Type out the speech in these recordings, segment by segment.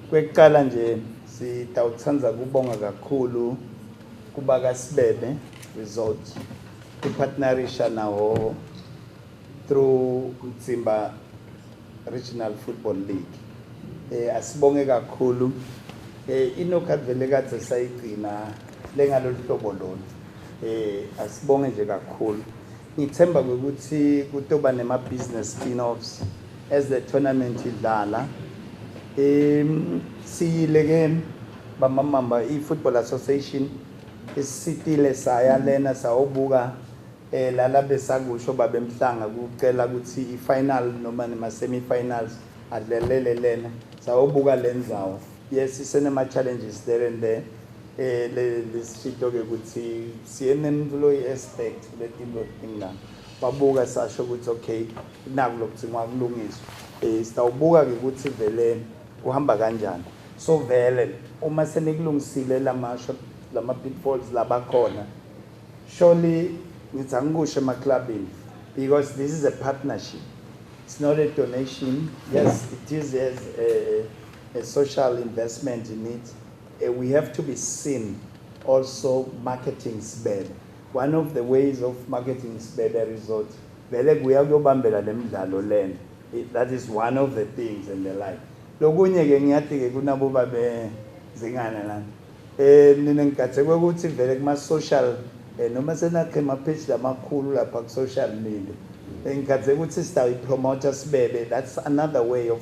Kwekuqala nje sitawuthanda kubonga kakhulu kuba kaSibebe Resort ipartnerisha nawo through Mtsimba Regional Football League. Eh asibonge kakhulu eh inokhathi vele kade sayigcina lengalolu hlobo lona. Eh asibonge nje kakhulu. Ngithemba ukuthi kutoba nema business spin-offs as the tournament idlala. Um siyile ke bamamamba i-Football Association isitile saya lena sawobuka eh lala besakusho babemhlanga kucela ukuthi i-final noma nema-semi-finals adlelele lena sawobuka le ndzawo yes isenema-challenges there and there Eh lesishito ke ukuthi siyena employee aspect letinto tingana. Babuka sasho ukuthi okay naku lokuthingwa kulungiswa. Eh sitawubuka ke ukuthi vele kuhamba kanjani. So vele uma senikulungisile lamasho lama pitfalls labakhona surely ngithi angikusho emaclubini because this is a partnership it's not a donation yes it is as a, a social investment in it Eh, we have to be seen also marketing Sibebe. One of the ways of marketing Sibebe Resort, vele kuya kuyobambela le midlalo lena. That is one of the things and the like. Lokunye ke ngiyathi ke kunabo babe zingana lana. Eh mina ngigathekwe ukuthi vele kuma social eh noma senakhe ama page lamakhulu lapha ku social media. Eh, ngigathekwe ukuthi sitawuyi promoter Sibebe. That's another way of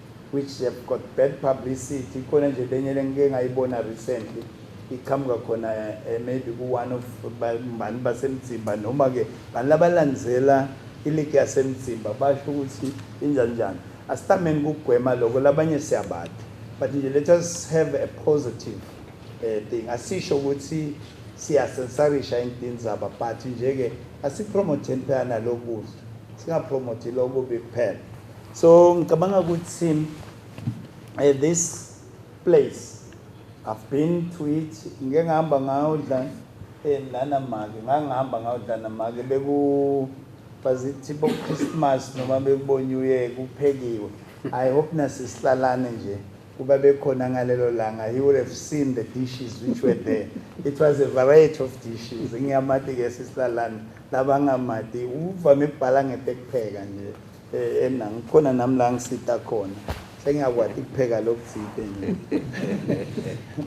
which have got bad publicity ikhona nje lenye lengike ngayibona recently iqhamuka khona eh, maybe ku-one of bani basemzimba noma-ke bani labalandzela iligi yasemzimba basho ukuthi injani njani asitameni kugwema loko labanye siyabati but nje let us have a positive um thing asisho ukuthi siyasensarisha intini zaba but nje-ke asipromotheni phela nalokudla singapromothi lokubi kuphela so ngicabanga ukuthi at this place i've been to it ngike ngihamba ngayodla eh, lana make ngangihamba ngayodla namake beku bazithi bo Christmas noma bekubo New Year kuphekiwe i hope nasisihlalane nje kuba bekhona ngalelo langa he would have seen the dishes which were there it was a variety of dishes ngiyamati ke sisilalana labangamati uvame ukubhala ngete kupheka nje Eh, ena ngikhona nami la ngisita khona sengiyakwati kupheka lokutsite nje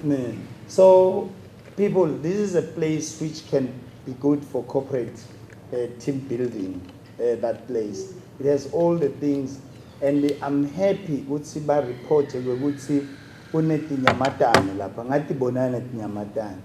Ne. so people this is a place which can be good for corporate uh, team building uh, that place it has all the things and i'm happy ukuthi bareport kwekuthi kunetinyamatane lapha ngathi bonana netinyamatane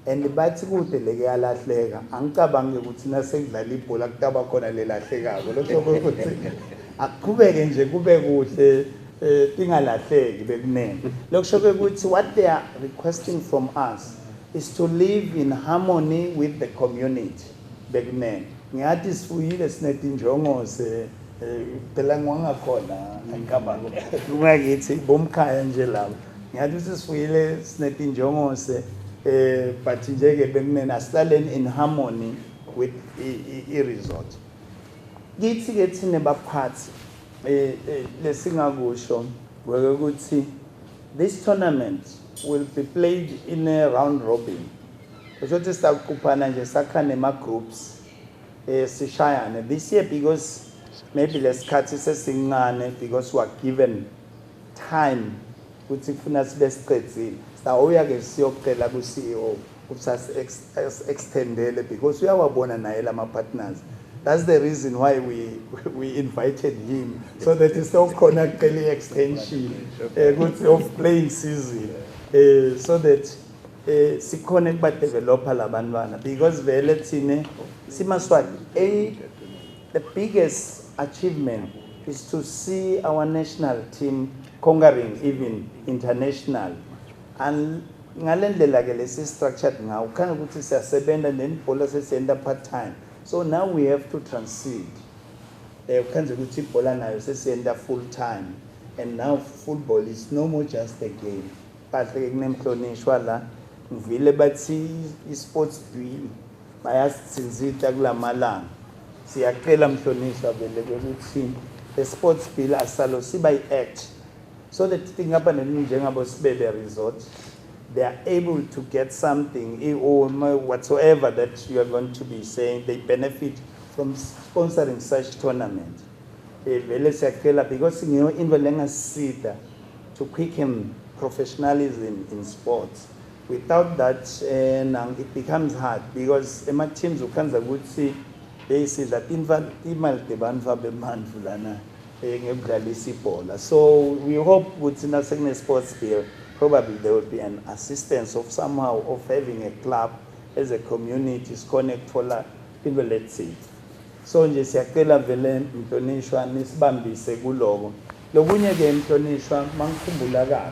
And bathi kude leke yalahleka angicabangi ukuthi nasekudlala ibhola kutaba khona lelahlekako lokho ukuthi akuqhubeke nje kube kuhle eh, tingalahleki bekunene lokusho ukuthi what they are requesting from us is to live in harmony with the community bekunene ngiyathi sifuyile sinetinjongose eh, phela ngiwangakhona angicabangi kungakithi bomkhaya nje labo Ngiyathi ukuthi sifuyile sinetinjongose eh but nje ke bekunena asilaleni in harmony with i resort. Kithi ke thina baphathi eh, eh lesingakusho weke ukuthi this tournament will be played in a round robin. Kusho ukuthi sizakuquphana nje sakha nema groups eh sishayane this year because maybe lesikhathi sesincane because we are given time ukuthi kufuna sibe siqedzile sawuya ke siyocela ku CEO ukuthi as extendele because uyawabona naye lama partners that's the reason why we we invited him so that is so khona kucela extension eh, ukuthi of playing season eh, so that eh sikhona kuba developer labantwana because vele thina simaswati a The biggest achievement is to see our national team conquering even international and ngale ndlela ke lesi structured ngawo khanga ukuthi siyasebenza nebhola sesiyenza part time so now we have to transit eh ukhenze ukuthi ibhola nayo sesiyenza full time and now football is no more just a game bahle ke kunemhlonishwa la ngivile bathi i-sports bill bayasithinzita kulamalanga siyacela mhlonishwa vele ukuthi the sports bill asalo siba i-act so that tinkampani ezinjengabo sibebe resort they are able to get something whatsoever that you are going to be saying they benefit from sponsoring such tournament eh, vele siyacela because ngiyo into lengasida to quicken professionalism in sports Without that eh, now it becomes hard because ema-teams ukhanza ukuthi eyi sidla imali tebantfu abemandvu lana um ngekudlalisa ibhola so we hope ukuthi nasekune-sports bill probably there will be an assistance of somehow of having a club as a community sikhona ekuthola into lethile so nje siyacela vele mhlonishwa nisibambise kuloko lokunye-ke mhlonishwa mangikhumbula kahle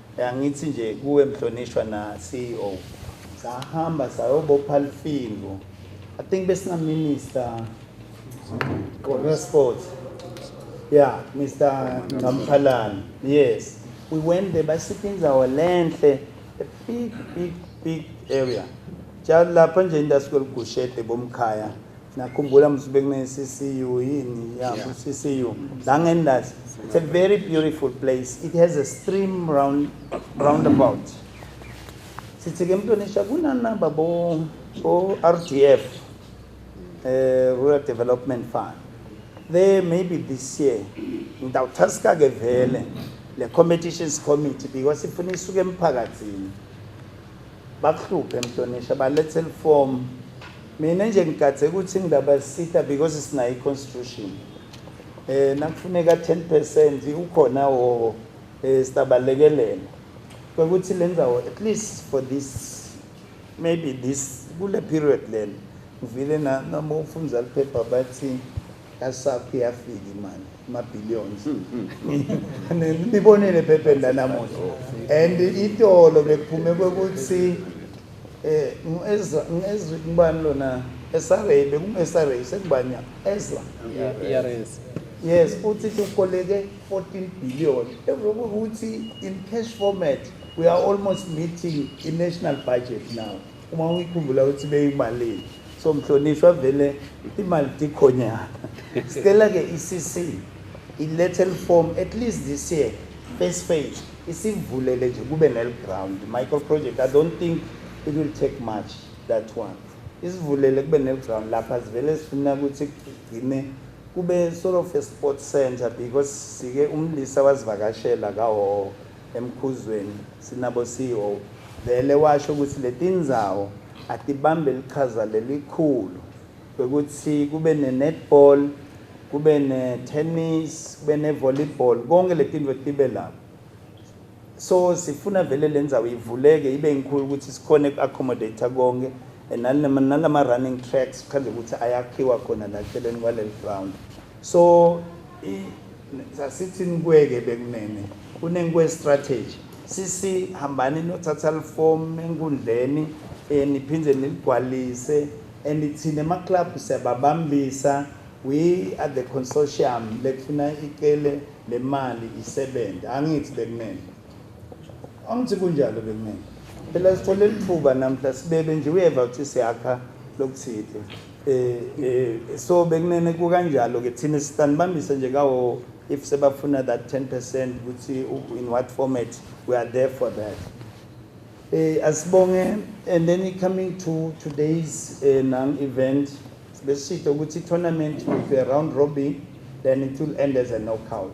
Angithi nje kuwe mhlonishwa na CEO sahamba sayobopha lifingo I think besina minister Corner Sports. Yeah, Mr. Ngamphalani. Yes. We went there basipha indawo lenhle a big big big area. Jalo lapha nje indawo sikuligushethe bomkhaya nakhumbula mse bekuneCCU yini ya Yeah. CCU la ngendazi it's a very beautiful place it has a stream round roundabout sithi ke mntonisha kunanaba bo bo RDF eh Rural Development Fund there maybe this year ngitawuthaska ke vele le competitions committee because ifuna isuke emphakathini bakuhluphe mhlonishwa balethe lifomu mina nje ngigadze ukuthi ngindaba sitha because sinayo i-constitution um eh, nakufuneka 10 percent ukhona wowo um eh, sitabalekelela kwekuthi le ndawo at least for this maybe this kule period lena ngivile noma ufunza liphepha bathi Yasaph iyafika imali ma billions. Nibonile phephen la namuhla. And itolo bekuphume ukuthi eh ngezwe ngezwe kubani lona esaray bekungesaray sekubanya ezwa. ERS. Yes, futhi sikoleke 14 billion. Ukuthi in cash format we are almost meeting the national budget now. uma uyikhumbula ukuthi beyimalini so mhlonishwa vele imali tikhonyana sicela ke i-cc ilethe liform at least this year first phase isivulele nje kube neliground micro project i don't think it will take much that one isivulele kube neliground lapha sivele sifuna ukuthi kugcine kube sort of a sport center because sike umlisa wazivakashela kawowo emkhuzweni sinabo CEO vele washo ukuthi letindzawo atibambe lichaza lelikhulu ukuthi kube ne netball kube ne tennis kube ne volleyball konke letinto tibe lapho so sifuna vele lendzawo ivuleke ibe inkulu ukuthi sikhone ku accommodate konke nalama running tracks khanje ukuthi ayakhiwa khona la celeni kwaleli ground so i sasithi nikweke bekunene kunenkwe strategy sisi hambani nothatha liform enkundleni eh, niphinde niligwalise and thina ama club siyababambisa we are the consortium lekufuna icele lemali isebenze angithi bekumele angithi kunjalo bekumele phela sithole lithuba namhla sibebe nje uyeva ukuthi siyakha lokuthile eh eh so bekunene kukanjalo ke thina sitanibambise nje kawo if sebafuna that 10% ukuthi in what format we are there for that eh asibonge and then coming to today's uh, eh, non event besitho ukuthi tournament with a round robin then it will end as a knockout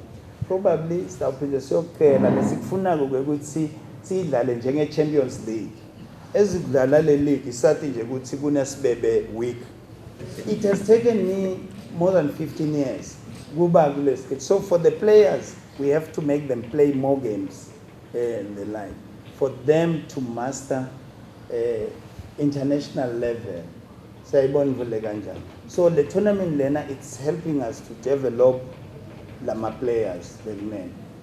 probably sawuphinde siyocela lesikufunako ukuthi sidlale njenge Champions League ezidlala le league sathi nje ukuthi kunesibebe week it has taken me more than 15 years kuba kule stage so for the players we have to make them play more games eh, and the like for them to master uh, international level siyayibona ivule kanjani so le tournament lena it's helping us to develop lama players bekumele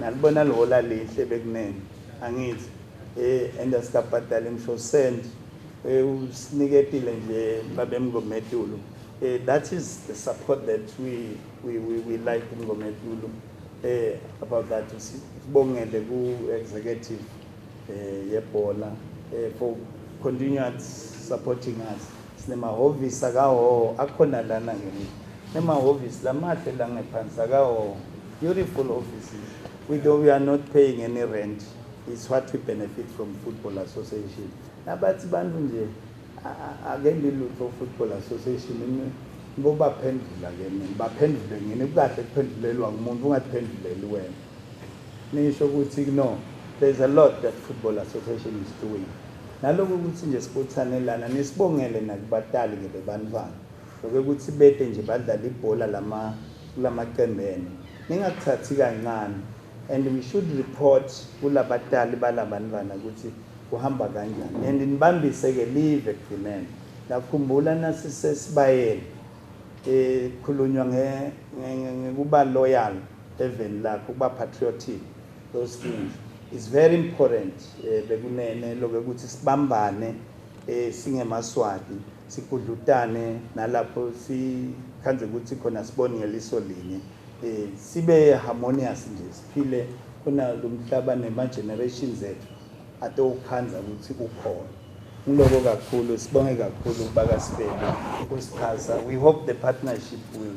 nalibona lihola lihle bekunene angithi eh enda sikabhadala imshosend eh, usiniketile nje babemngometulu eh, that is the support that we we we, we like mngometulu eh about that sibongele ku executive eh yebhola eh for continued supporting us sinemahhovisi akawo akhona lana ngini nemahhovisi lamahle la ngephansi akawo beautiful offices we though we are not paying any rent is what we benefit from football association nabathi bantu nje ake ngilutho football association ngobaphendula ke mina baphendule ngini kukahle kuphendulelwa ngumuntu ungaphenduleli wena Nisho ukuthi no there's a lot that football association is doing naloko ukuthi nje sibuthanelana nisibongele nakubatali ke bebantwana loke ukuthi bete nje badlala ibhola lama kulamaqembu enu ningakuthathi kancane and we should report kulabatali balabantwana ukuthi kuhamba kanjani and nibambise-ke live ekugcineni ngakhumbula nasisesibayeni um eh, khulunywa ngekuba loyal eveni lakho ukuba patriotic those things is very important eh, bekunene loke ukuthi sibambane eh, singemaswati sigudlutane nalapho sikhanze ukuthi khona sibone ngeliso linye eh, sibe harmonious nje siphile khona lo mhlaba nema-generations ethu atowukhanza ukuthi kukhona ngiloko kakhulu sibonge kakhulu ukubakasibele ukusixhasa we hope the partnership will